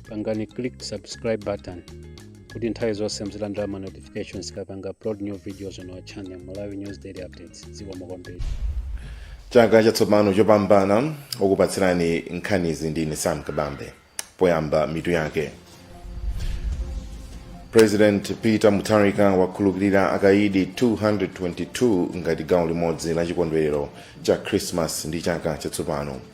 pangani click subscribe button kuti nthawi zonse muzilandira ma notifications tikapanga upload new videos on our channel malawi news daily updates zikomo kwambiri chaka chatsopano chopambana okupatsirani nkhanizi ndine sam kabambe poyamba mitu yake president peter mutharika wakhululukira akaidi 222 ngati gawo limodzi la chikondwerero cha christmas ndi chaka chatsopano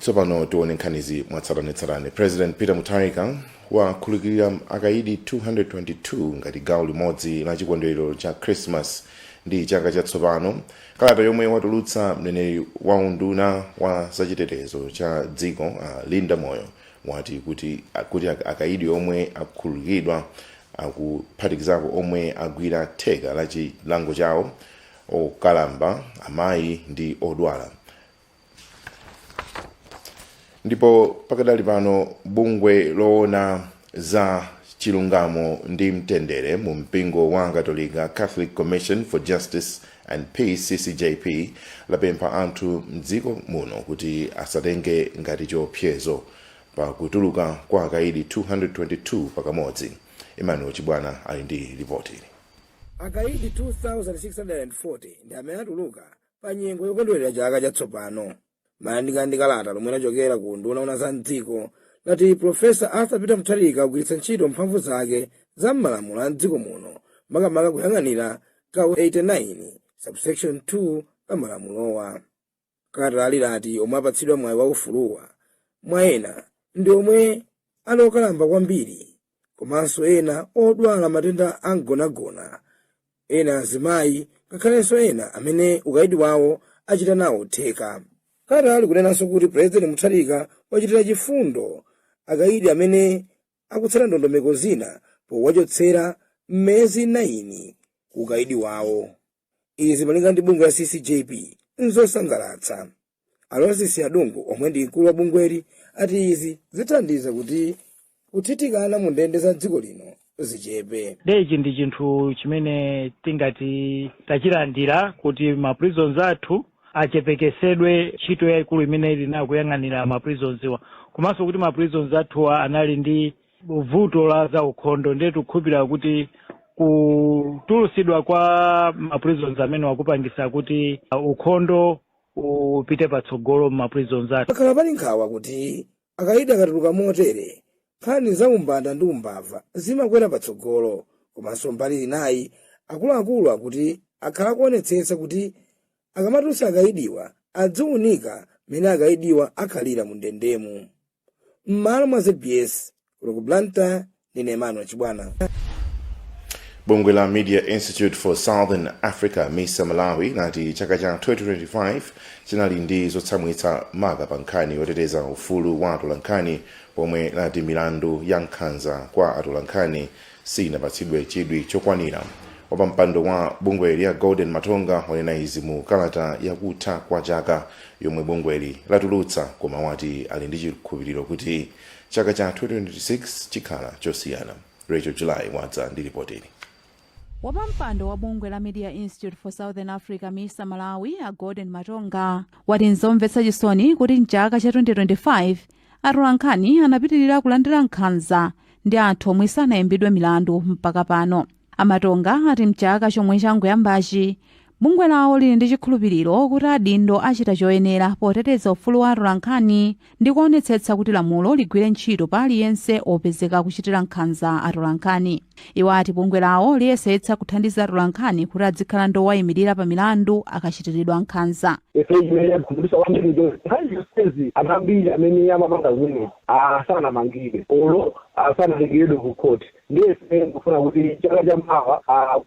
tsopano tione nkhanizi mwatsatanetsatane president peter mutharika wakhululukira akaidi 222 ngati gawo limodzi la chikondwerero cha christmas ndi chaka chatsopano kalata yomwe watulutsa mneneri wa unduna wa zachitetezo cha dziko uh, linda moyo wati kuti akaidi omwe akhululukidwa akuphatikizapo omwe agwira theka la chilango chawo okalamba, amayi, ndi odwala. Ndipo pakadali pano bungwe loona za chilungamo ndi mtendere mu mpingo wa Katolika, Catholic Commission for Justice and Peace, CCJP, lapempha anthu mdziko muno kuti asatenge ngati chiopsezo pa kutuluka kwa akaidi 222 pakamodzi. Emmanuel Chibwana ali ndi lipoti. Akaidi 2,640 ndi amene atuluka pa nyengo yokondwerera chaka chatsopano. Malinga ndi kalata lomwe lachokera ku unduna wowona za m'dziko, lati Pulofesa Arthur Peter Mutharika wagwiritsa ntchito mphamvu zake za m'malamulo a m'dziko muno, makamaka kuyang'anira gawo 89, subsection 2 la malamulowa. Kalatali lati omwe apatsidwa mwayi wa ufuluwa mwa ena ndi omwe ali okalamba kwambiri komanso ena odwala matenda a mgonagona, ena azimayi ngakhalenso ena amene ukaidi wawo achita nawo theka. Kalatali likunenanso kuti Pulezidenti Mutharika wachitira chifundo akaidi amene akutsata ndondomeko zina powachotsera miyezi 9 ku ukaidi wawo. izi malinga ndi bungwe la ccjp nzosangalatsa alozisi adungu omwe ndi mkulu wa bungweli ati izi zithandiza kuti kuthithikana mu ndende za dziko lino zichepe ndiye ichi ndi chinthu chimene tingati tachilandira kuti ma prisons athu achepekesedwe ntchito yayikulu imene ili nayo kuyang'anira ma prisonsiwa komanso kuti ma prisons athuwa anali ndi vuto la zaukhondo ndiye tikukhulupirira kuti kutulusidwa kwa ma prisoners amenewa kupangisa kuti uh, ukhondo upite patsogolo mma prisons athu pakhala pali nkhawa kuti akaidi akatuluka motere nkhani za umbanda ndi umbava zimakwera patsogolo komanso mbali inayi akuluakulu akuti akhala akuonetsetsa kuti akamatulutsa akaidiwa adziwunika mmene akaidiwa akhalira mu ndendemu m'malo mwa zbs kuno ku blantyre ndine emmanuel chibwana bungwe la media institute for southern africa misa malawi lati chaka cha 2025 chinali ndi zotsamwitsa maka pa nkhani yoteteza ufulu wa atolankhani pomwe lati milandu ya nkhanza kwa atolankhani siinapatsidwe chidwi chokwanira wapampando wa bungweli a golden matonga wanena izi mu kalata yakutha kwa chaka yomwe bungweli latulutsa koma wati ali ndi chikhulupiriro kuti chaka cha 2026 chikhala chosiyana rachel july wadza ndi ripotili wapampando wa bungwe la media institute for southern africa misa malawi a golden matonga wati nzomvetsa chisoni kuti mchaka cha 2025 Atolankhani anapitilira kulandira nkhanza ndi anthu omwe sanaimbidwe milandu mpaka pano. A Matonga ati mchaka chomwe changoyambachi, bungwe lawo lili ndi chikhulupiliro kuti adindo achita choyenera poteteza ufulu wa atolankhani ndi kuonetsetsa kuti lamulo ligwire ntchito pa aliyense opezeka akuchitira nkhanza atolankhani. iwo ati bungwe lawo liyesetsa kuthandiza atolankhani kuti adzikhala ndi owayimirira pa milandu akachitiridwa nkhanza ife chimene chakhumudwitsa kwambiri ndi nkhani zonsezi anthu ambiri amene amapanga zimenezi sanamangidwe olo sanatengeredwe ku khoti ndiye ife ndikufuna kuti chaka cha mawa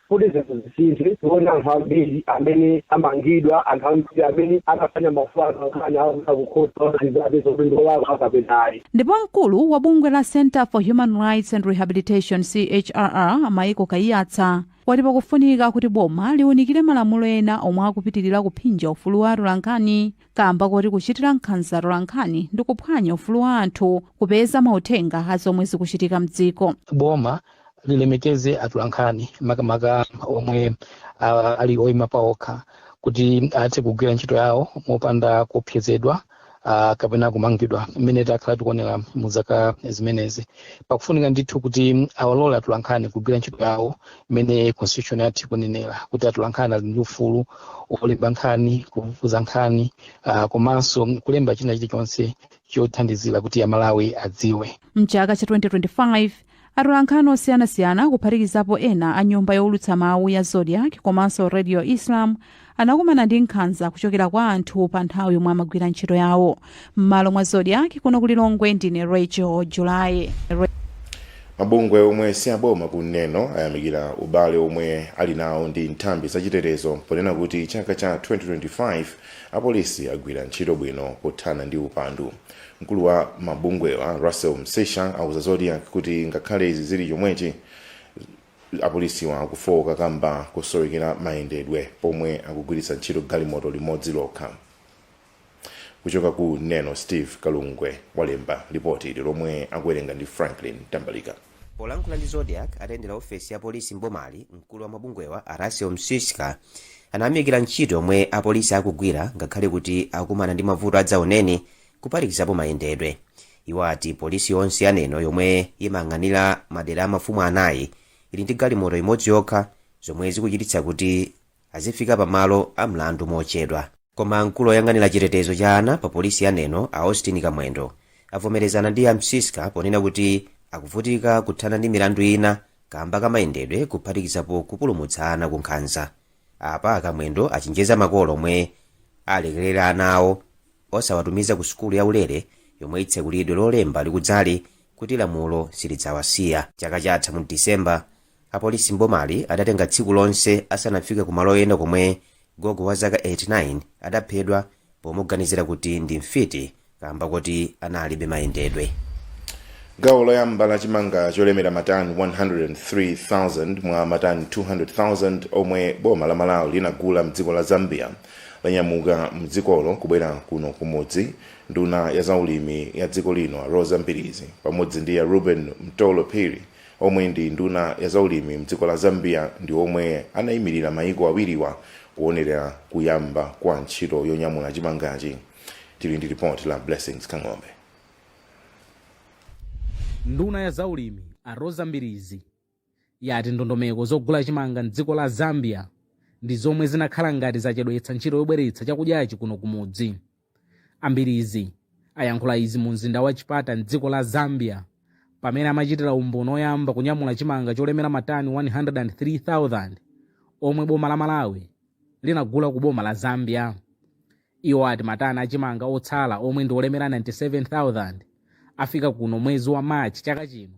kuti zinthu zisinthe tione anthu ambiri amene amangidwa anthu ambiri amene anaphwanya maufulu a atolankhani akupita ku khoti kuti apeze kuti ndi olakwa kapena ayi Ndipo mkulu wa bungwe la Centre for Human Rights and Rehabilitation, CHRR, a Michael Kaiyatsa, wati pakufunika kuti boma liunikire malamulo ena omwe akupitilira kuphinja ufulu wa atolankhani kaamba koti kuchitira nkhanza atolankhani ndi kuphwanya ufulu wa anthu kupeza mauthenga a zomwe zikuchitika mdziko. Boma lilemekeze atolankhani makamaka omwe uh, ali oima paokha kuti athe kugwira ntchito yawo mopanda kuopsezedwa. uh, kapena kumangidwa mmene takhala tikuonera mu zaka zimenezi pakufunika ndithu kuti awalole atulankhani kugwira ntchito yawo mmene constitution yathu ikunenera kuti atulankhani ali ndi ufulu wolemba nkhani kufufuza nkhani uh, komanso kulemba china chilichonse chothandizira kuti amalawi adziwe mchaka cha 2025 atolankhani osiyanasiyana kuphatikizapo ena a nyumba youlutsa mawu ya zodiak komanso radio islam anakumana ndi nkhanza kuchokera kwa anthu pa nthawi yomwe amagwira ntchito yawo m'malo mwa zodiak kuno ku lilongwe ndine rachel july mabungwe omwe si aboma ku neno ayamikira ubale omwe ali nawo ndi nthambi zachitetezo ponena kuti chaka cha 2025 apolisi agwira ntchito bwino pothana ndi upandu Mkulu wa mabungwewa Russell Msiska auza Zodiak kuti ngakhale izi zili chomwechi, apolisiwa akufowoka kamba kosowekera mayendedwe pomwe akugwiritsa ntchito galimoto limodzi lokha. Kuchoka ku Neno, Steve Kalungwe walemba lipoti ili lomwe akuwerenga ndi Franklin Mtambalika. Polankhula ndi Zodiak atayendera ofesi ya polisi m'bomali, mkulu wa mabungwewa a Russell Msiska anayamikira ntchito yomwe apolisi akugwira ngakhale kuti akukumana ndi mavuto adzaoneni kuphatikizapo mayendedwe. Iwo ati polisi yonse ya Neno yomwe imayang'anira madera a mafumu anayi ili ndi galimoto imodzi yokha zomwe zikuchititsa kuti azifika pamalo a mlandu mochedwa. Koma mkulu oyang'anira chitetezo cha ana pa polisi ya Neno a Austin Kamwendo avomerezana ndi a Msiska ponena kuti akuvutika kuthana ndi milandu ina kamba ka mayendedwe kuphatikizapo kupulumutsa ana ku nkhanza. Apa a Kamwendo achenjeza makolo omwe alekerera ana awo osawatumiza ku sukulu ya ulere yomwe itsekulidwe lolemba likudzali kuti lamulo silidzawasiya. Chaka chatha mu December, apolisi m'bomali adatenga tsiku lonse asanafike ku malo ena komwe gogo wa zaka 89 adaphedwa pomuganizira kuti ndi mfiti kamba koti analibe mayendedwe gawo loyamba la chimanga cholemera matani 103,000 mwa matani 200,000 omwe boma la malawi linagula mdziko la zambia lanyamuka mdzikolo kubwera kuno kumudzi nduna ya zaulimi ya dziko lino a roza mbilizi pamodzi ndi a reuben mtolo phiri omwe ndi nduna ya zaulimi mdziko la Zambia ndi omwe anayimilira mayiko awiriwa kuwonelera kuyamba kwa ntchito yonyamula chimangachi. Tili ndi report la Blessings Kang'ombe. Nduna ya zaulimi a Roza Mbilizi yati ndondomeko zogula chimanga mdziko la Zambia ndi zomwe zinakhala ngati zachedwetsa ntchito yobweretsa chakudyachi kuno kumudzi. A Mbilizi ayankhula izi mu mzinda wa Chipata m'dziko la Zambia pamene amachitira umboni oyamba kunyamula chimanga cholemera matani 103,000 omwe boma la Malawi linagula ku boma la Zambia. Iwo ati matani a chimanga otsala omwe ndi olemera 97,000 afika kuno mwezi wa March chaka chino.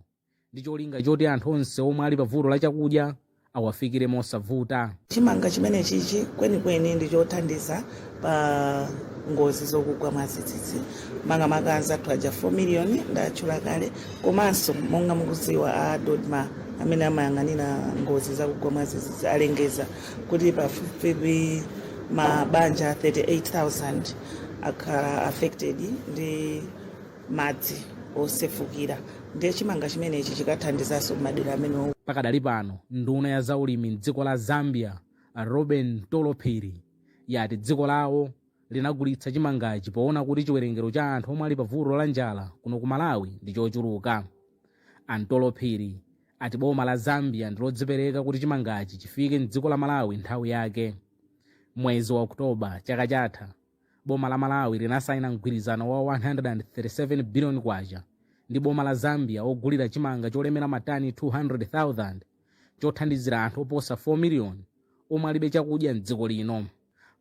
ndi cholinga choti anthu onse omwe ali pa vuto la chakudya awafikire mosavuta. Chimanga chimenechichi kwenikweni ndi chothandiza pa ngozi zokugwa mwadzidzidzi makamaka anzathu aja 4 miliyoni ndatchula kale, komanso monga mukudziwa a DoDMA amene amayang'anira ngozi zakugwa mwadzidzidzi alengeza kuti pafupifupi mabanja 38,000 akhala affected ndi madzi osefukira ndiye chimanga chimenechi chikathandizanso m'madera amenewo. Pakadali pano, nduna ya zaulimi m'dziko la Zambia, a Reuben Mtolo Phiri, yati dziko lawo linagulitsa chimangachi poona kuti chiwerengero cha anthu omwe ali pa vuto la njala kuno ku Malawi ndi chochuluka. A Mtolo Phiri ati boma la Zambia ndi lodzipereka kuti chimangachi chifike m'dziko la Malawi nthawi yake. Mwezi wa October chaka chatha, Boma la Malawi linasaina mgwirizano wa K137 biliyoni ndi boma la Zambia wogulira chimanga cholemera matani 200,000 chothandizira anthu oposa 4 miliyoni omwe alibe chakudya m'dziko lino.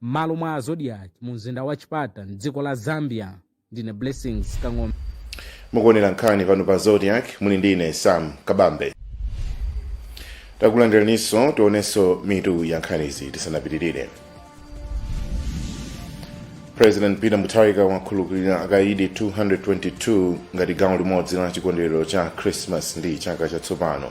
M'malo mwa Zodiak mumzinda wa Chipata m'dziko la Zambia. ndine blessings kang'ombe mukuonera nkhani pano pa zodiak muli ndi ine sam kabambe takulandiraninso tionenso mitu ya nkhanizi tisanapitirire president peter mutharika wakhululukira akaidi 222 ngati gawo limodzi la chikondwerero cha christmas ndi chaka chatsopano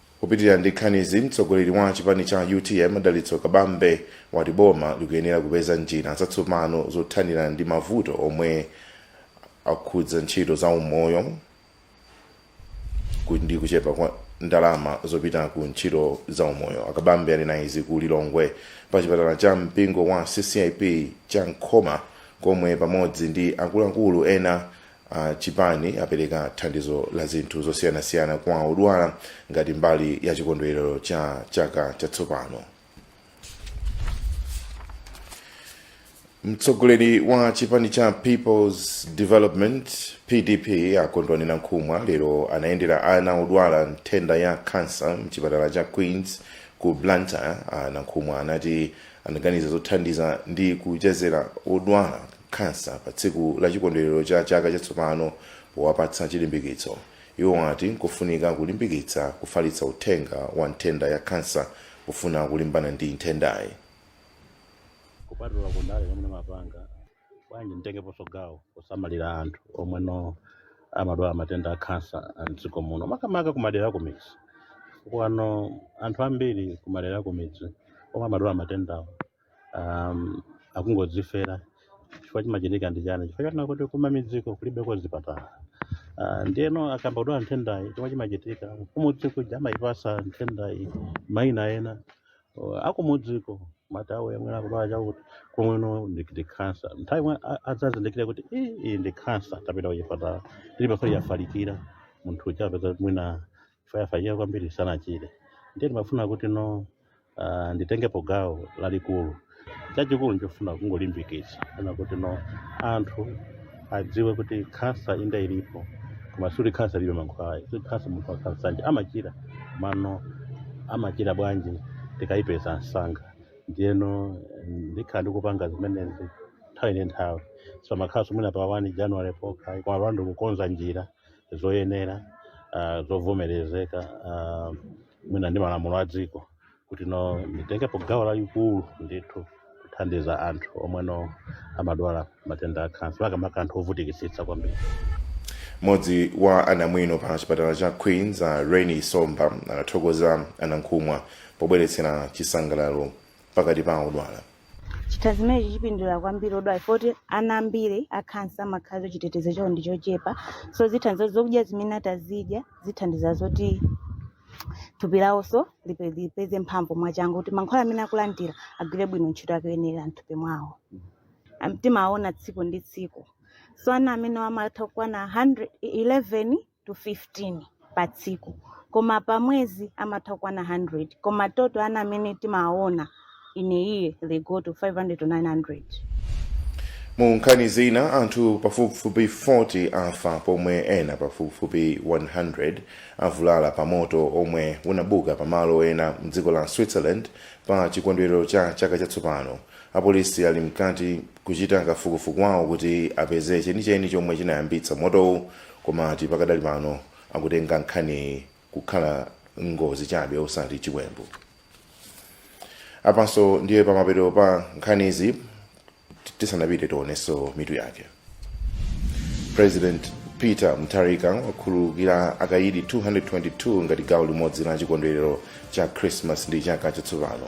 Kupitilira ndi nkhanizi, mtsogoleri wa chipani cha utm Dalitso Kabambe wati boma likuyenera kupeza njira zatsopano zothanira ndi mavuto omwe akhudza ntchito za umoyo ku- ndi kuchepa kwa ndalama zopita ku ntchito za umoyo. A Kabambe anena izi ku Lilongwe pa chipatala cha mpingo wa CCAP cha Nkhoma komwe pamodzi ndi akuluakulu ena a chipani apereka thandizo la zinthu zosiyanasiyana kwa odwala ngati mbali ya chikondwerero cha chaka chatsopano. Mtsogoleri wa chipani cha People's Development PDP a Kondwani Nankhumwa lero anayendera ana odwala nthenda ya kansa mchipatala cha Queens ku Blantyre. A Nankhumwa anati anaganiza zothandiza ndi kuchezera odwala khansa pa tsiku la chikondwelero cha chaka chatsopano powapatsa chilimbikitso. Iwo ati nkofunika kulimbikitsa kufalitsa uthenga wa nthenda ya khansa pofuna kulimbana ndi nthendayi. kupatula ku ndale zomwe ndimapanga bwanji nditengeponso gawo kusamalira anthu omwe no amadwala matenda a khansa a mdziko muno makamaka kumadera akumidzi kuli anthu ambiri kumadera akumidzi omwe amadwala matendawo am, akungodzifera chifukwa chimachitika ndi chani chifukwa chonena kuti kumamidziko kulibeko zipatala Ah, ndiyeno akayamba kudwala nthendayi chomwe chimachitika kumudzi kuja amayipatsa nthendayi mayina ena Oh, akumudziko amati awo omwe akudwala chakuti kumweno ndi ndi khansa nthawi yomwe a- adzazindikire kuti "Ii, iyi ndi khansa tapita kuchipatala tili pafupi yafalikira munthu uja apeza kuti mwina chifukwa yafalikira kwambiri sanachire ndiye timafuna kuti no uh, nditengepo gawo lalikulu chachikulu ndichofuna kungolimbikitsa kunena kuti no anthu adziwe kuti khansa inde ilipo koma sikuti khansa ilibe mankhwala sikuti khansa munthu wa khansa naye amachira mano amachira bwanji tikayipeza msanga ndiyeno ndikhala ndikupanga zimenezi nthawi ndi nthawi sizimakhalanso mwina pa 1 january pokha koma pano ndikukonza njira zoyenera uh, zovomerezeka uh, mwina ndi malamulo a dziko kuti no nditengepo gawo lalikulu ndithu kuthandiza anthu omwe no amadwala matenda a khansa makamaka anthu ovutikitsitsa kwambiri mmodzi wa anamwino pa chipatala cha queens a reni somba anathokoza a Nankhumwa pobweretsera chisangalalo pakati pa odwala. Chithandizo chimenechi chipindulira kwambiri odwala chifukwa kuti ana ambiri a khansa amakhala kuti chitetezo chawo ndi chochepa so zithandizo zokudya zimene atazidya zithandiza zoti thupi lawonso lipe- lipeze mphamvu mwachangu kuti mankhwala amene akulandira agwire bwino ntchito yake yoyenera m'thupi mwawo Am- timaona tsiku ndi tsiku so ana amene amatha kukwana 11 to 15 pa tsiku koma pa mwezi amatha kukwana 100 koma total ana amene timaona in a year they go to 500 to 900 mu nkhani zina anthu pafupifupi 40 afa pomwe ena pafupifupi 100 avulala pa moto omwe unabuka pa malo ena mdziko la switzerland pa chikondwerero cha chaka chatsopano apolisi ali mkati kuchita kafukufuku wawo kuti apeze chenicheni chomwe chinayambitsa motowu Koma ati pakadali pano akutenga nkhaniyi kukhala ngozi chabe osati chiwembu. Apanso ndiye pamapeto pa nkhanizi tisanapite tionenso mitu yake. President Peter Mutharika wakhululukira akayidi 222 ngati gawo limodzi la chikondwerero cha Christmas ndi chaka chatsopano.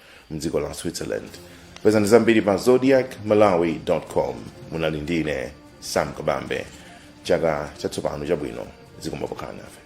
mdziko la switzerland pezani zambiri pa zodiac malawi com munali ndi ine sam kabambe chaka chatsopano chabwino zikomo pokhala nafe